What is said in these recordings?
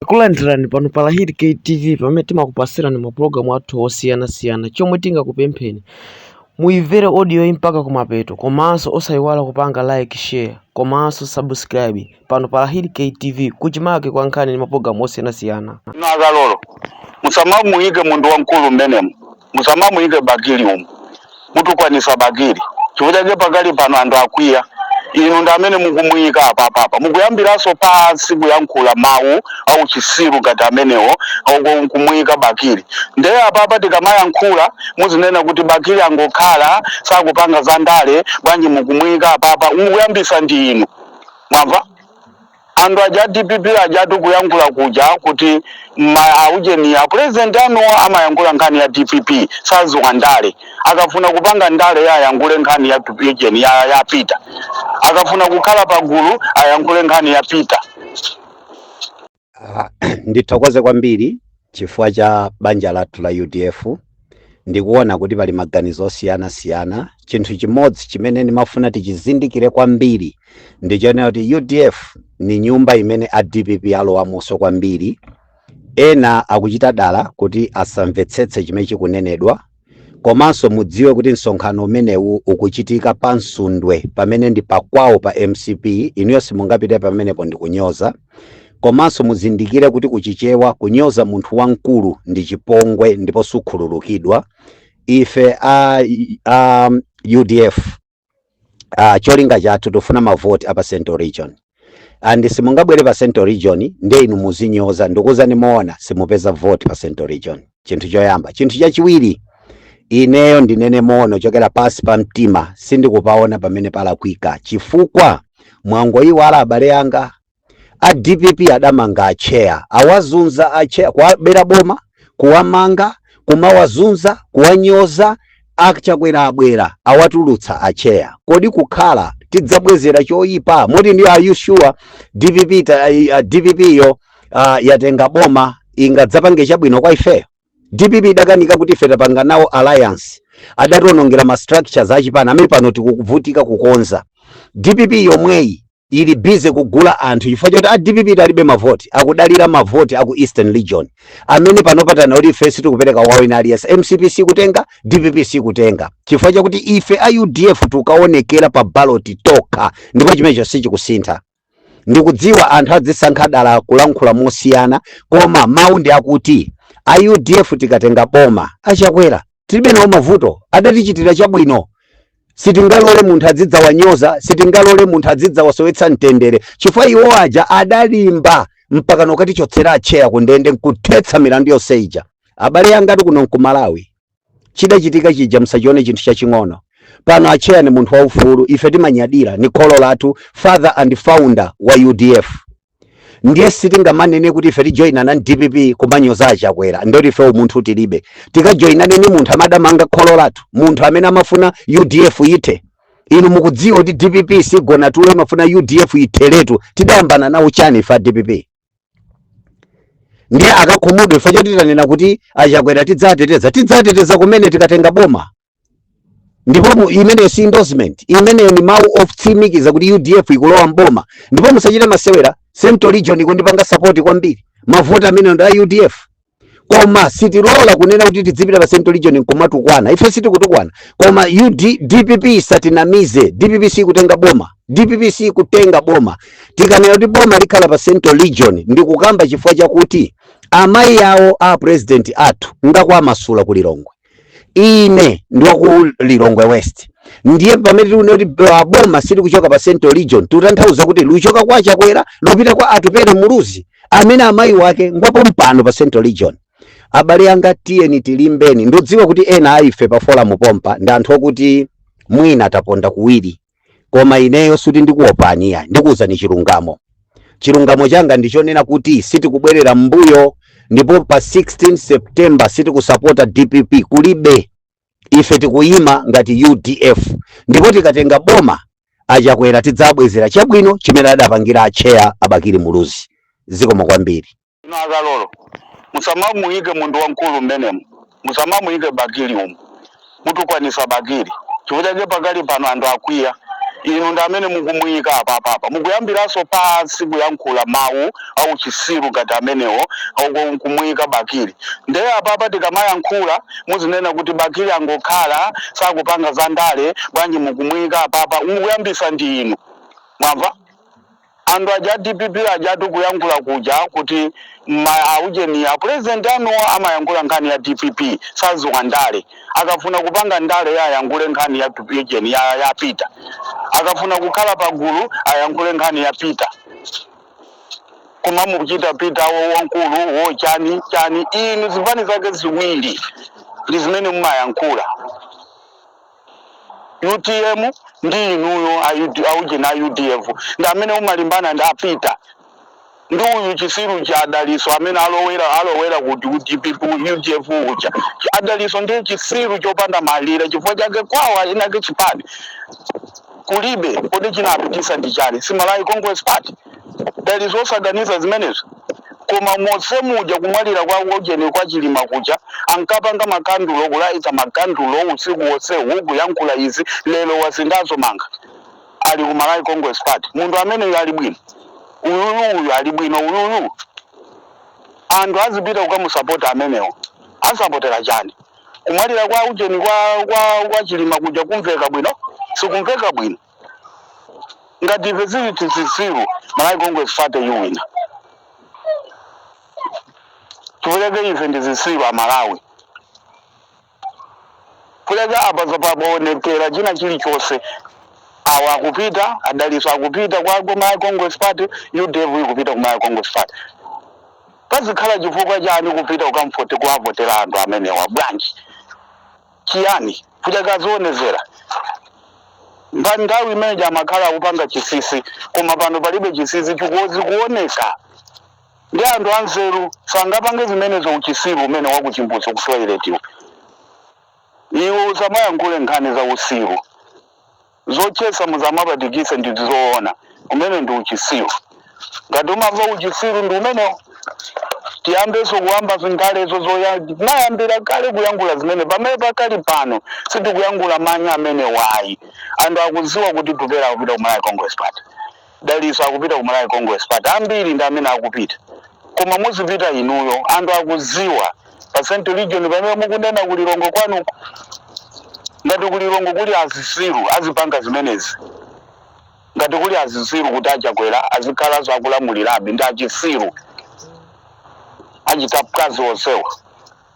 Takulandirani pano pa Lahid K TV pamene timakupatsirani mapulogalamu athu osiyanasiyana. Chomwe tingakupempheni muimvere audioyi mpaka kumapeto komanso osayiwala kupanga like, share komanso subscribe pano pa Lahid K TV kuchimake kwa nkhani ndi mapulogalamu osiyanasiyana. inu akalolo musamamuyike munthu wamkulu mmenemu musamamuyike bakili umu mutukwanisa bakili chifukwa chake pakali pano anthu akwiya inu ndi amene mukumuyika apapapa mukuyambiranso pansi kuyankhula mawu auchisiru ngati amenewo ako nkumuyika bakili ndeye apapa tikamayankhula muzinena kuti bakili angokhala sakupanga za ndale bwanji mukumuyika apapa mukuyambisa ndi inu mwamva Anthu aja a dpp ajatu kuyankhula kuja kuti aujeni a president anuwo amayankhula nkhani ya dpp saziwa ndale akafuna kupanga ndaleyo ayankhule nkhani ya ujeni ya, ya peter akafuna kukhala pagulu ayankhule nkhani ya peter Ah, ndithokoze kwambiri Chifukwa cha banja lathu la udf, ndikuona kuti pali maganizo osiyanasiyana. Chinthu chimodzi chimene ndimafuna tichizindikire kwambiri ndi chonena kuti udf ni nyumba imene a dpp alowamonso kwambiri. Ena akuchita dala kuti asamvetsetse chimene chikunenedwa Komanso mudziwe kuti msonkhano umenewu ukuchitika pa Msundwe pamene ndi pakwawo pa mcp, inuyo simungapite pamenepo ndi kunyoza. Komanso muzindikire kuti ku Chichewa kunyoza munthu wamkulu ndi chipongwe ndipo sukhululukidwa. Ife a, a UDF ah, cholinga chathu tufuna mavoti apa central region and simungabwere pa central region ndiye inu muzinyoza ndikuuzani moona simupeza vote pa central region chinthu choyamba chinthu chachiwiri ineyo ndinene moona chochokera pansi pa mtima sindikupaona pamene palakwika chifukwa mwangoyiwala abale anga a dpp adamanga a chair, awazunza a chair, kuwabera boma, kuwamanga, kumawazunza, kuwanyoza, a Chakwera abwera awatulutsa a chair. Kodi kukhala tidzabwezera choyipa moti ndi are you sure dpp ta, uh, dpp yo uh, yatenga boma ingadzapange chabwino kwa ifeyo dpp idakanika kuti ife titapanga nawo alliance adatiwonongera ma structures achipani amene pano tikuvutika kukonza dpp yomweyi ili busy kugula anthu chifukwa choti a dpp alibe mavoti akudalira mavoti aku eastern region amene pano patana kuti ife sitikupereka kwa wina aliyense mcp sikutenga dpp sikutenga chifukwa chakuti ife a udf tikaonekera pa baloti tokha ndipo chimenecho sichikusintha ndikudziwa anthu adzisankha dala kulankhula mosiyana koma mawu ndi akuti a udf tikatenga boma achakwera tilibe nawo mavuto adatichitira chabwino sitingalole munthu adzidzawanyoza sitingalole munthu adzidzawasowetsa mtendere chifukwa iwo aja adalimba mpaka nokatichotsera atcheya ku ndende nkuthetsa milandu yonse ija abale anga ti kuno nku Malawi chidachitika chija msachione chinthu chaching'ono pano atcheya ni munthu waufulu ife timanyadira ni kholo lathu father and founder wa udf ndiye sitingamanene kuti ife tijoyinana ndi dpp kumanyoza a Chakwera ndoti ife umunthu tilibe tikajoyinane ni munthu amene adamanga kholo lathu munthu amene amafuna udf ithe inu mukudziwa kuti dpp sigona tulo imafuna udf itheretu tidayambana nawo chani ife a dpp ndiye akakhumudwe ife choti titanena kuti a Chakwera tidzateteza tidzateteza kumene tikatenga boma ndipo imeneyo si endorsement, imeneyo ni mau otsimikiza kuti UDF ikulowa mboma, ndipo musachite masewera. Central Region ikutipanga support kwambiri, mavoti ambiri ndi a UDF koma sitilola kunena kuti tidzipita pa Central Region nkumatukwana. Ife sitikutukwana, koma UD, DPP satinamize. DPP kutenga boma, DPP kutenga boma. Tikanena kuti boma likhala pa Central Region ndikukamba chifukwa chakuti amayi awo a president athu ngakwa Masula ku Lilongwe ine ndi wa ku lilongwe west ndiye pamene tikunena kuti ba- boma silikuchoka pa central region tikutanthauza kuti likuchoka kwa chakwera lupita kwa atupere muluzi amene amayi wake ngwa pompano pa central region abale anga tiyeni tilimbeni ndodziwa kuti ena a ife pa forum pompa ndi anthu okuti mwina taponda kuwiri koma ineyo suti ndikuopani iyayi ndikuuzani chilungamo chilungamo changa ndichonena kuti sitikubwerera m'mbuyo ndipo pa 16 september sitikusapota dpp kulibe ife tikuyima ngati udf ndipo tikatenga boma a Chakwera tidzabwezera chabwino chimene adapangira atcheya a Bakili muluzi zikomo kwambiri Inu a Kalolo musamamuyike munthu wamkulu mmenemu, musamamuyike Bakili umu, mutukwanisa Bakili chifukwa chake pakali pano anthu akwiya, inu ndi amene mukumuyika apapa, apa mukuyambilaso pansi kuyankhula mawu auchisiru ngati amenewo nkumuyika Bakili, nde apapa tikamayankhula muzinena kuti Bakili angokhala sakupanga za ndale bwanji mukumuyika apapa, mukuyambisa ndi inu mwamva. Anthu aja a dpp ajatu kuyankhula kuja kuti ma a ujeni a president anuwo amayankhula nkhani ya dpp saziwa ndale akafuna kupanga ndale ye ayankhule nkhani ya ujeni ya ya peter akafuna kukhala pagulu ayankhule nkhani ya peter kumamuchita peter wo wankulu wo chani chani inu zipani zake ziwiri ndi zimene mumayankhula utm ndi inuyo aujeni a udf ndi amene umalimbana ndi a Peter ndi uyu chisiru cha adaliso amene alowera alowera ku dpp udf uja adaliso ndi chisiru chopanda malire chifukwa chake kwawa inake chipani kulibe kodi chinapitisa ndi chani si malawi congress party adaliso osaganiza zimenezo koma mose muja kumwalira kwa ujeni kwa chilima kuja ankapanga makandulo kulayita makandulo usiku wonse huku yankhula izi lero wasinthaso malamba ali ku malawi congress party munthu ameneyo ali bwino uyuyu uyu ali bwino uyuyu anthu azipita kukamusapota amenewo asapotera chani kumwalira kwa ujeni kwa kwa kwa chilima kuja kumveka bwino sikumveka bwino ngati ife tili zitsiru malawi congress party yuwina tipereke ife ndi zisiru a malawi kuleka apa zapaonekera china chilichonse awa akupita adaliso akupita kwa kwa malawi congress party udf ikupita ku malawi congress party Pazikhala chifukwa chani kupita kukamvote kuwavotera anthu amenewa bwanji? chiyani? Kuja kazionekera pa nthawi imene ija amakhala akupanga chisisi koma pano palibe chisisi chikoz zikuoneka ndi anthu anzeru sangapange zimenezo uchisiru umenewo wa kuchimbudzi ku toilet iwe usamayankhule nkhani za usiru. Zoti chisankho muzamapatikise ndi zizoona umene ndi uchisilu ngati umava uchisilu ndi umeneo tiyambeso kuyamba zingalezo zoya tinayambila kale kuyangula zimene pamene pakali pano sitikuyangula manyi amenewo ayi anthu akuziwa kuti Atupele akupita ku Malawi congress party. Dalitso akupita ku Malawi Congress party ambiri ndi amene akupita koma muzipita inuyo anthu akuziwa pa central region pamene mukunena ku Lilongwe kwanuko ngati ku Lilongwe kuli azisiru azipanga zimenezi ngati kuli azisiru kuti achakwera azikhalanso akulamulirabe ndi achisiru achitamkazi onsewa.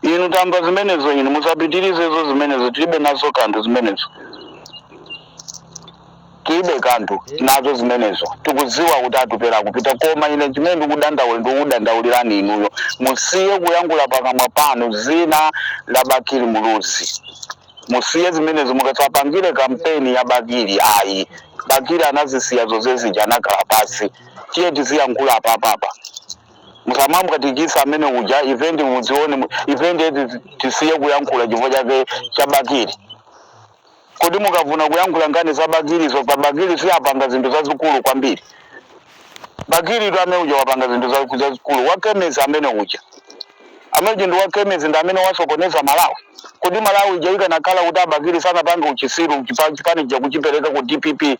Inu tamva zimenezo, inu musapitirize izo, zimenezo, tiribe nazo kanthu zimenezo, tiribe kanthu nazo zimenezo. Tikudziwa kuti Atupele akupita, koma ine chimene ndikudandaula, ndikukudandaulirani inuyo, musiye kuyankhula pakamwa panu dzina la Bakili Muluzi. Musiye zimenezo, mukasapangire kampeni ya Bakili ayi. Bakili anazisiya zonse zija, anakhala pasi. Tiye tiziyankhula apapapa, musamamkakatikisa amene uja event muzione mu- event eti tisiye kuyankhula chifukwa chake cha bakili kodi mukafuna kuyankhula nkhani za bakilizo pa bakili si apanga zinthu zazikulu kwambiri bakili tu amene uja wapanga zinthu za- zazikulu wakemezi amene uja amene ndi wakemezi ndi amene wasokoneza malawi kodi malawi ija ikanakhala kuti abakili sanapange uchisiru chipa- chipani chija kuchipereka ku dpp